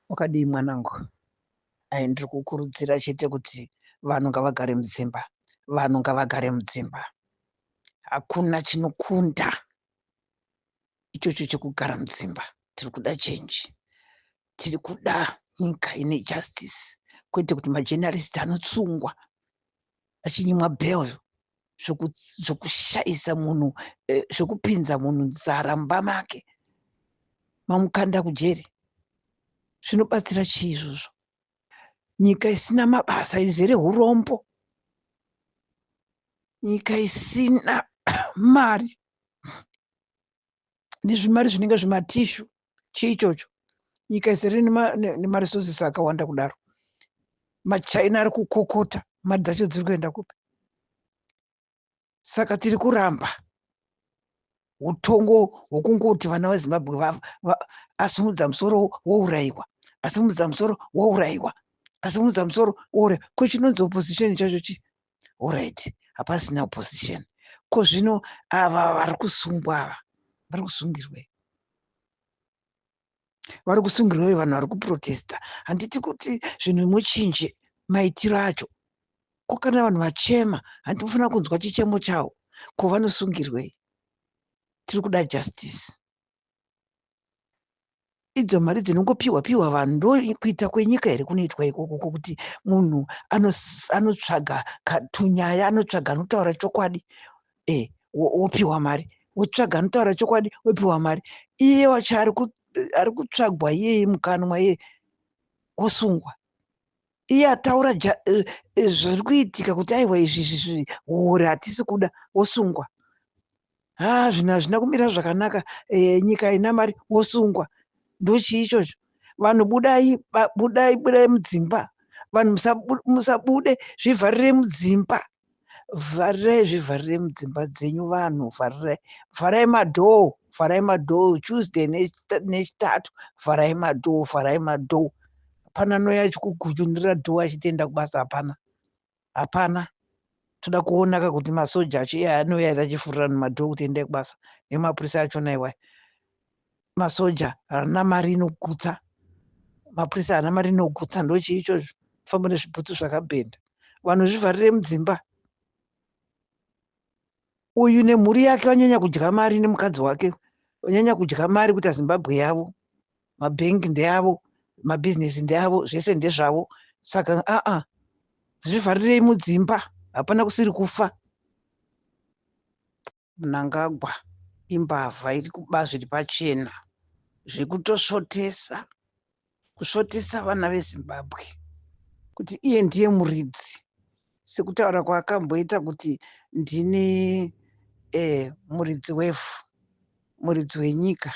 Wakadii mwanangu? Ayy ndiri kukurudzira chete kuti vanhu ngavagare mudzimba, vanhu ngavagare mudzimba. Hakuna chinokunda ichocho chekugara mudzimba. Tiri kuda change. Tiri kuda nyika ine justice kwete kuti majournalist anotsungwa achinyimwa bell zvokushaisa munhu eh, zvokupinza munhu nzara mumba make mamukanda kujeri zvinobatsira chii izvozvo nyika isina mabasa izere urombo nyika isina mari nezvimari zvinenge zvimatishu chii ichocho nyika isiri nemaresources akawanda kudaro machina ari kukokota mari dzacho dziri kuenda kupi saka tiri kuramba utongo hwokungoti vana vezimbabwe asimudza musoro wourayiwa asimudza musoro wourayiwa asimudza musoro wourayiwa ko chinonzi opposition chacho chii orit hapasina opposition ko zvino ava vari kusungwa ava vari kusungirwei vari kusungirwei vanhu vari kuprotesta handiti kuti zvinhu muchinje maitiro acho ko kana vanhu vachema handiti mufanira kunzwa chichemo chavo ko vanosungirwei tiri kuda justice idzo mari dzinongopiwa piwa vanhu ndo kuita kwenyika here kunoitwa ikoko kokuti munhu anotsvaga tunyaya anotsvaga anotaura chokwadi e eh, wopiwa mari wotsvaga anotaura chokwadi wopiwa mari iye wacho ari kutsvagwa iyeye mukanwa iye wosungwa iye ataura eh, eh, zviri kuitika kuti aiwa izvi izvi hure hatisi kuda wosungwa haa zvinhu hazvina kumira zvakanaka e, nyika ina mari wosungwa ndochii ichocho vanhu budai budai budai mudzimba vanhu musabude zvivharire mudzimba vharirai zvivharirai mudzimba dzenyu vanhu vharirai vharai madhoo vharai madhoo tuesday nechitatu vharai madhoo vharai madhoo hapana noya achikugunyunira dhoo achitenda kubasa hapana hapana toda kuonaka kuti masoja acho iye anouya ere achifurira nemadhoo kuti endai kubasa nemapurisa achona iwaya masoja haana mari inogutsa mapurisa haana mari inogutsa ndochii ichozvo famba nezvibhutsu zvakabhenda vanhu zvivharire mudzimba uyu nemhuri yake vanyanya kudya mari nemukadzi wake vanyanya kudya mari kuita zimbabwe yavo mabhengi ndeavo mabhizinesi ndeavo zvese ndezvavo saka aa zvivharirei mudzimba hapana kusiri kufa mnangagwa imbavha iri kuba zviri pachena zvekutosvotesa kusvotesa vana vezimbabwe kuti iye ndiye muridzi sekutaura kwaakamboita kuti ndini eh, muridzi wevhu muridzi wenyika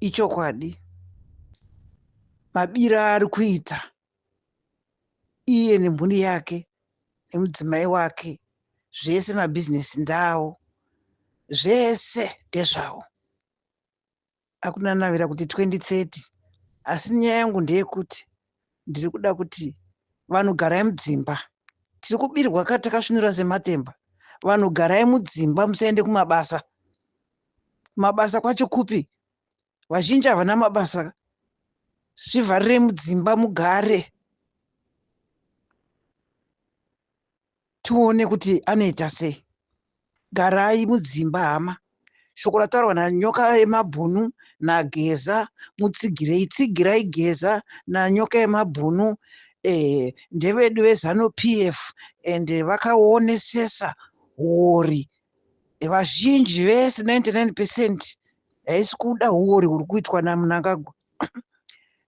ichokwadi mabira ari kuita iye nemhuri yake nemudzimai wake zvese mabhizinesi ndawo zvese ndezvawo akunanavira kuti 2030 asi nyaya yangu ndeyekuti ndiri kuda kuti vanhu garai mudzimba tiri kubirwa ka takasvinura sematemba vanhu garai mudzimba musaende kumabasa mabasa kwacho kupi vazhinji havana mabasa zvivharirei mudzimba mugare tione kuti anoita sei garai mudzimba hama shoko rataurwa nanyoka yemabhunu nageza mutsigirei tsigirai geza nanyoka yemabhunu eh, ndevedu vezanu p f and vakaonesesa huori vazhinji vese 99 percent haisi kuda huori huri kuitwa namunangagwa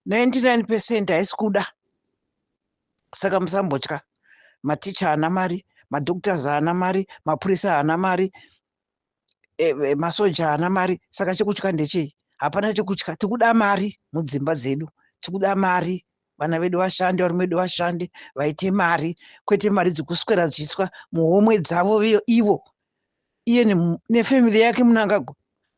99 percent haisi kuda saka musambotya maticha haana mari madoctors haana mari mapurisa haana mari e, e, masoja haana mari saka chekutya ndechei hapana chekutya tikuda mari mudzimba dzedu tikuda mari vana vedu vashande varume vedu vashande vaite mari kwete mari dzekuswera dzichiitwa muhomwe dzavo ivo iye nefamily yake munangagwa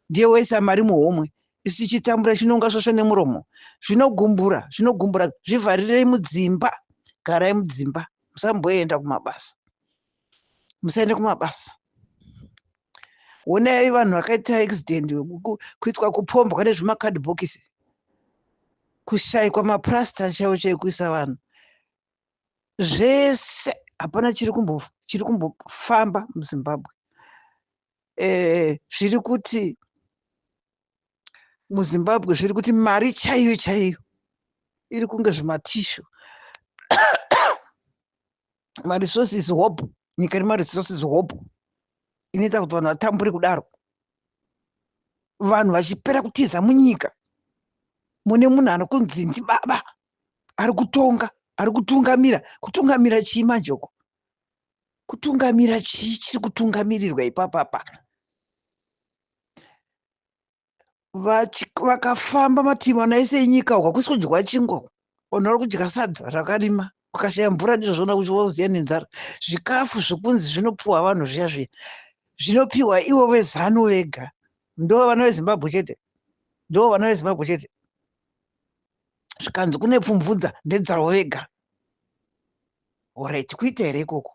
ndiye waisa mari muhomwe isu tichitambura chinonga svosvo nemuromo zvinogumbura zvinogumbura zvivharirei mudzimba garai mudzimba musamboenda kumabasa musaende kumabasa onai vanhu vakaita accident kuitwa kupombwa nezvimakadhibhokisi kushaikwa mapurasita chaivo chaikuisa vanhu zvese hapana chiri kumbo chiri kumbofamba muzimbabwe eh, zviri e, kuti muzimbabwe zviri kuti mari chaiyo chaiyo iri kunge zvimatishu maresources hope nyika ine maresources hope inoita kuti vanhu vatambure kudaro vanhu vachipera kutiza munyika mune munhu anokunzi ndibaba ari kutonga ari kutungamira kutungamira chii manje uko kutungamira chii chiri kutungamirirwa ipapapa vakafamba mativi mana ese enyika uko hakusi kudyiwa chingwa unori kudya sadza rakarima kukashaya mvura ndizvozvona kuti wauziya nenzara zvikafu zvokunzi zvinopiwa vanhu zviya zviya zvinopiwa ivo vezanu vega ndo vana vezimbabwe chete ndo vana vezimbabwe chete zvikanzi kune pfumvudza ndedzavo vega orit kuita here ikoko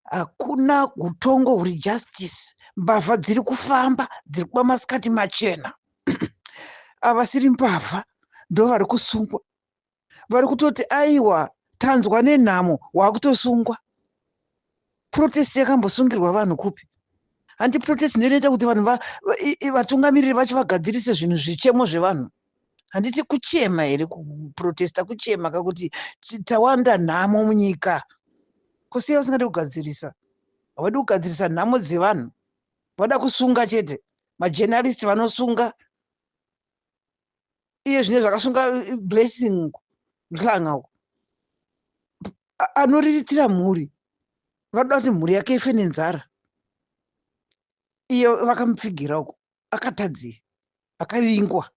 hakuna utongo huri justice mbavha dziri kufamba dziri kuba masikati machena avasiri mbavha ndo vari kusungwa vari kutoti aiwa tanzwa nenhamo waakutosungwa protest yakambosungirwa vanhu kupi handi protest ndiyo inoita kuti vanhu vatungamiriri vacho vagadzirise zvinhu zvichemo zvevanhu handiti kuchema here kuprotesta kuchema kakuti tawanda nhamo munyika kusiya usingadi kugadzirisa havadi kugadzirisa nhamo dzevanhu vada kusunga chete majenaristi vanosunga iye zvine zvakasunga eh, blessing uko nhlanga uko anoriritira mhuri vanoda kuti mhuri yake ife nenzara iye vakamupfigira uko akatadzei akavingwa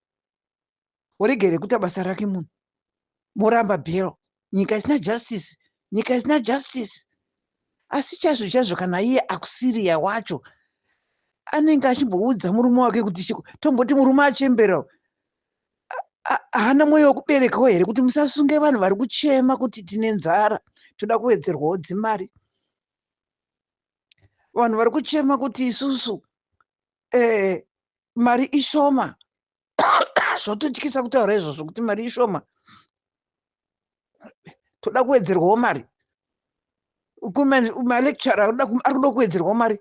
oregere kuita basa rake munhu moramba bhero nyika isina justice nyika isina justice asi chazvo chazvo kana iye akusiriya wacho anenge achimboudza murume wake kuti chiko tomboti murume achembera haana mwoyo wekuberekawo here kuti musasunge vanhu vari kuchema kuti tine nzara toda kuwedzerwawo dzimari vanhu vari kuchema kuti isusu eh, mari ishoma zvototyisa kutaura izvozvo kuti mari ishoma toda kuwedzerwawo mari malecture ari kuda kuwedzerwawo mari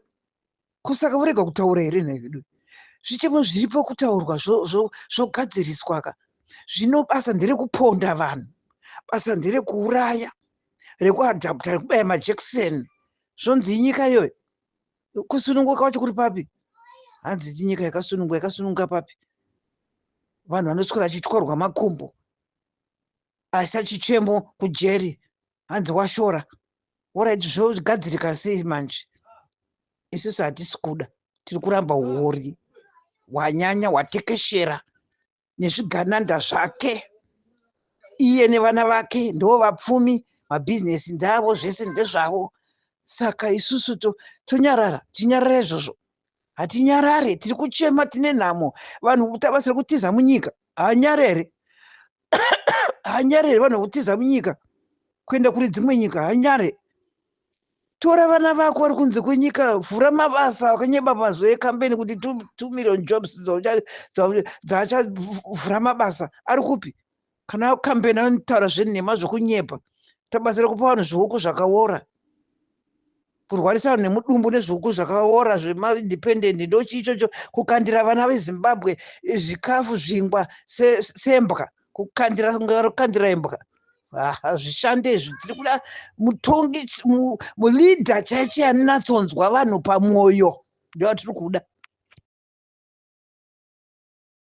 kusaka vorega kutaura here nhai vedu zvichemo zviripo kutaurwa zvogadziriswa ka zvino basa nderekuponda vanhu basa nderekuuraya rekuadapta rekubaya majekiseni zvonzi inyika iyoyo kusununguka kwacho kuri papi hanzi ndinyika yakasununguka yakasununguka papi vanhu vanoswera achityorwa makumbo asi achichemo kujeri hanzi washora oraiti zvogadzirika sei manje isusu hatisi kuda tiri kuramba huori hwanyanya hwatekeshera nezvigananda zvake iye nevana vake ndo vapfumi mabhizinesi ndavo zvese ndezvavo saka isusu tonyarara tinyarara izvozvo hatinyarare tiri kuchema tine nhamo vanhu tavasiri kutiza munyika hanyarere hanyarere vanhu kutiza munyika kuenda kune dzimwe nyika hanyare tora vana vako vari kunze kwenyika vhura mabasa wakanyeba mazwi ekambeni kuti two million jobs dzaachavhura mabasa ari kupi kana kambeni anotaura zvenhema zvekunyepa tabatsira kupa vanhu zvihuku zvakaora kurwarisa vanhu nemudumbu nezvihuku zvakaora zvemaindependent ndochii ichocho kukandira vana vezimbabwe zvikafu zvingwa sembwa se kukandira kukandira imbwa hazvishande izvi tiri kuda mutongi muleader chaicho anonatsonzwa vanhu pamwoyo ndovatiri kuda